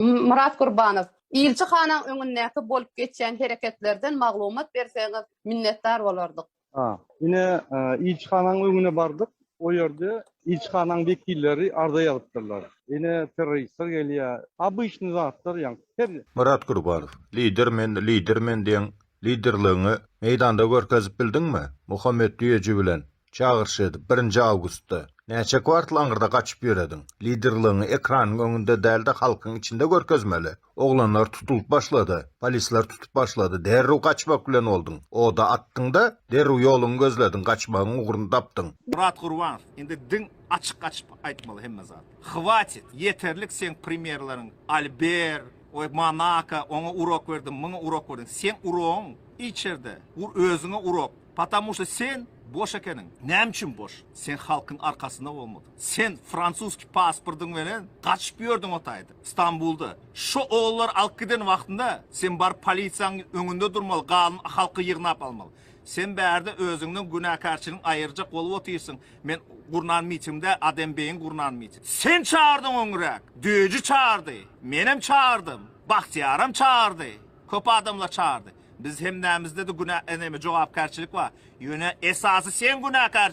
Myrat Gurbanow, Ilçi hanyň öňündäki bolup geçýän hereketlerden maglumat berseňiz minnetdar bolardyk. A. Ine, Ilçi hanyň öňüne bardyk, o ýerde Ilçi hanyň wekilleri arza ýazypdyrlar. Ine, terroristler gelýär. Obyçny zatlar ýaňky her. Myrat Gurbanow, Lider men, lider men diýen liderligiňi meýdanda görkezip bildiňmi? Muhammet Düýeji bilen Çagyryş edip, birinji awgustda näçe kwartal aňyrda gaçyp ýörediň? Liderligiňi ekranyň öňünde däl-de halkyň içinde görkezmeli. Oglanlar tutulyp başlady. Polisler tutup başlady. Derrew gaçmak bilen bolduň. Oda atdyň-da, derrew ýoluňy gözlediň, gaçmagyň ugruny tapdyň. Myrat Gurbanow, indi diň açyk gaçyp aýtmaly hemme zat. Hwatit, ýeterlik seň primerleriň, Alber, oý Monaka, oňa urok berdiň, muňa urok berdiň. Seň urogyň içerde, ur özüňe urok. Patamu şda sen boş ekeniň. Näme üçin boş? Sen halkyň arkasynda bolmadyň. Sen fransuski pasportyň belen gaçyp ýördüň o taýda, Stambulda. Şo ogullary alyp giden wagtyňda sen baryp polisiýaň öňünde durmaly, galyny halky ýygnap almaly. Sen bärde özüňden günäkärçiligiň aýyrjak bolup otyrsyň. Men gurnan mitingde Adem beýiň gurnan miting. Sen çagyrdyň öňräk. Döýüji çagyrdy. Menem çagyrdym. Bagtyýaram çagyrdy. Köp adamlar çagyrdy. Biz hemmämizdede günä neme jogapkärçilik bar. Ýöne esasy sen günäkär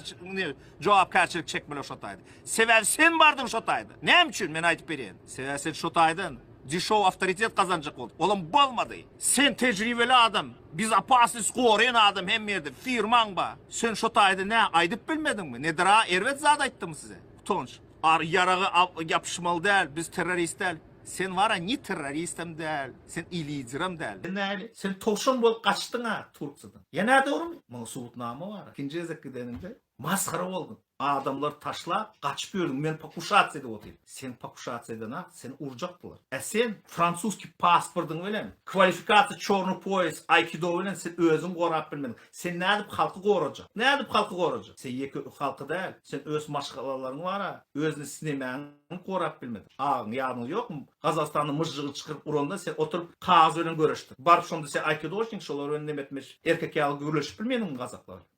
jogapkärçilik çekmeli şo taýda. Sebäbi sen bardyň şo taýda. Näme üçin men aýdyp berýän. Sebäbi sen şo taýdan dişow awtoritet gazanjak boldy. Olam bolmady. Sen tejribeli adam. Biz opasnis goraýan adam hem ýerde. Firmaň bar. Sen şo taýda nä aýdyp bilmediňmi? Nedira erbet zat aýtdymy size? Utanç. Ar ýaraga ýapyşmaly däl, biz terrorist däl. Sen wara ni terroristem däl, sen i liderem däl. Näme, sen towşan bolup gaçdyň-a Turkiýadan. Ýa nädogrymy? Muňa subutnama bar. Ikinji gezek gideninde masgara bolduň. Adamlary taşlap, gaçyp ýördüň. Men pokušasiýa edip otyryn. Sen pokušasiýa edenok, seni urjakdylar. Ä sen fransuski pasportyň bilen, kwalifikasiýa çorny poýes, aýkido bilen sen özüňi gorap bilmediň. Sen nädip halky gorajak? Nädip halky gorajak? Sen ýeke ök halky däl. Sen öz maşgalalaryň bar-a. Özüni sinemäňem gorap bilmediň. Agyň ýadyňda ýokmy? Gazagystanda myžžygy çykyryp uranda sen oturyp kagyz bilen göreşdiň. Baryp şonda sen aýkidoçnik, şolar bilen nemetmeç erkek ýaly gürleşip bilmediňmi gazaklar?